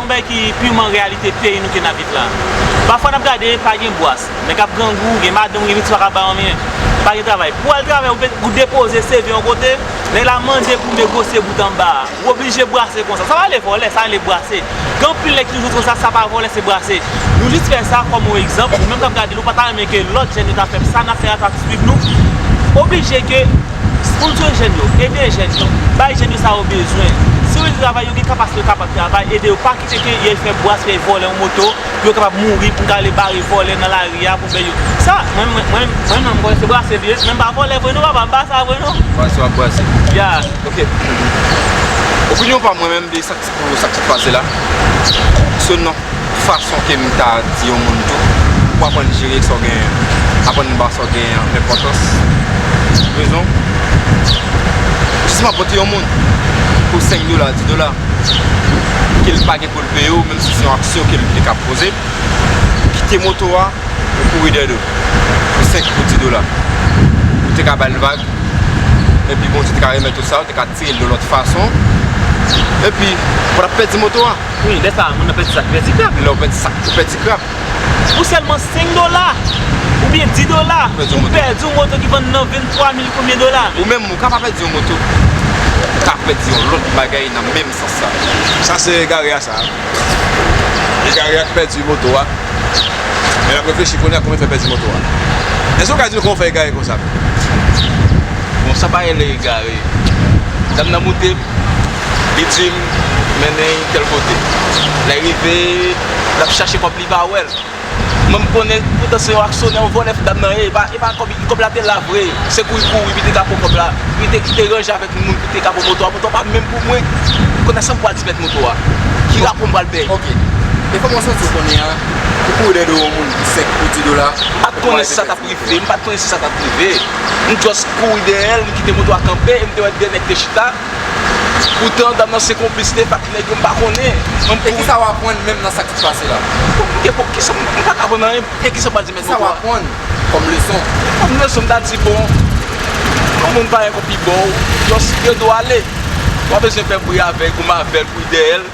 Yon bagay ki piman reyalite peyi nou ke nap viv la. Pafwa nap gade pa gen bwas, nèg ap grangou, gen madanm ou gen pitit pa ka bay anyen, pa gen travay. Pou al travay ou depoze CV yon kote, nèg la mande pou negosye bout anba a. Ou oblije bwase konsa. Sa pa rele vòlè, sa rele bwase. Gen anpil nèg ki toujou di konsa, sa pa vòlè se bwase. Nou jis fè sa kòm yon egzanp, ou menm kap gade nou pa ta renmen ke lòt jèn yo ta fè sa nap fè a ta swiv nou. Oblije ke. Moun bzwen jèn yo, ede jèn yo, bay jèn yo sa yo bezwen. Si yo di travay yo gen kapasite yo kapab travay, ede yo pa kite ke yèy fè bwas yèy vòlè yon moto pou yo kapab mouri pou gale bare vòlè nan lari a pou fè yo sa mwen mwen mwen mwen menm mwen se brase m ye mwen pa vòlè vre non papa m pa sa vre non. Brase wap brase. Ya ok. Opinyon pam mwen menm de sa. Pou sa k sot pase la, kou se nan fason ke m ta di yon moun tou, pou aprann jere sa w genyen an, aprann ba sa w genyen an enpòtans, rezon, jis m ap pote yon moun pou 5 dola, 10 dola, ke l pa gen pou l peye w, menm si se yon aksyon ke l te ka poze, ou kite moto a, ou kouri dèyè l, pou 5, pou 10 dola, ou te ka ba l vag, epi Bondye te ka remèt ou sa, ou te ka. Seye l yon lòt fason. Epi, ou pa t ap pèdi moto a. Wi, lè sa a, moun nan pèdi sa ki pèdi krap. Lè ou pèdi sa ki pèdi krap. Pou sèlman 5 dola, oubyen 10 dola, ou pèdi yon moto ki vann nan 23 mil konbyen dola. Ou menm, ou ka pa pèdi yon moto. Ou ka pèdi yon lòt bagay nan menm sans sa. Sa se egare a sa. egare a k pèdi moto a men l ap reflechi kounye a kòman l fè pèdi moto a èske ou ka di nou kòman ou fè egare konsa menm bon sa pa rele egare dam nan moute m li di m mennen m tèl kote lè l rive l ap chache kòb li pa wè l. Mwen m konnen poutan se yon aksyonè, yon vòlè fidam nan ye, e pa kòb, kòb la te la vre, se pou li kouri pou li te ka pran kòb la, pou li te kite ranje avèk moun pou li te ka pran moto a, moto a pa menm pou mwen, m konnen sa m pral di mèt moto a, ki rapò m pral bay. Ok, e kòman w santi w konnen an, pou kouri dèyè do yon moun pou 5, pou 10 dola. M pa t konnen si sa t ap rive, m pa t konnen si sa t ap rive, m just kouri dèyè l, m kite moto a kanpe, e m te wè 2 nèg te chita. Poutan dam nan se konplis li avk nèg yo mpa konnen. E kisa w aprann menm nan sa ki pase la? M paka aprann anyen. E kisa w pral di mèt moto a? Kisa w aprann kòm leson? Kòm leson m ta di bon yon moun pa gen pou pi bo w. Yon dwe ale. Ou pa bezwen fè bri avèk ou m avèl ou dèyè l.